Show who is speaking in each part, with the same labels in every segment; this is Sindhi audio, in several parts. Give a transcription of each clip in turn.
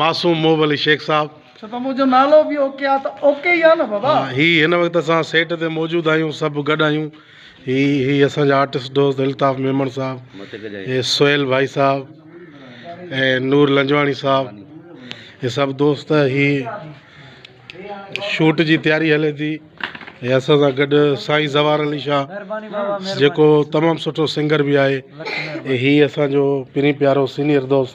Speaker 1: معصوم محب علي شيخ صاحب. اڇا ته منهنجو نالو
Speaker 2: به اوڪي آ ته اوڪي ئي آ نه بابا. ها هي هن وقت اسان
Speaker 1: سيٽ تي موجود آهيون سڀ گڏ آهيون هي هي اسان جا آرٽسٽ دوست الطاف ميمڻ صاحب هي سهيل ڀائي صاحب هي نور لنجواڻي صاحب هي سڀ دوست هي شوٽ جي تياري هلي ٿي هي اسان سان گڏ سائين زوار علي شاهه جيڪو تمام سٺو سنگر به آهي هي اسان جو پرين پيارو سينيئر دوست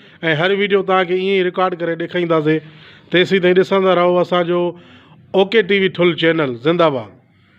Speaker 1: ۽ هر ويڊيو توهان کي ائين ئي رڪارڊ ڪري ڏيکارينداسين تيسين تائين ڏسندا رهو اسان جو اوڪي ٽي وي ٺل چينل زنده باد.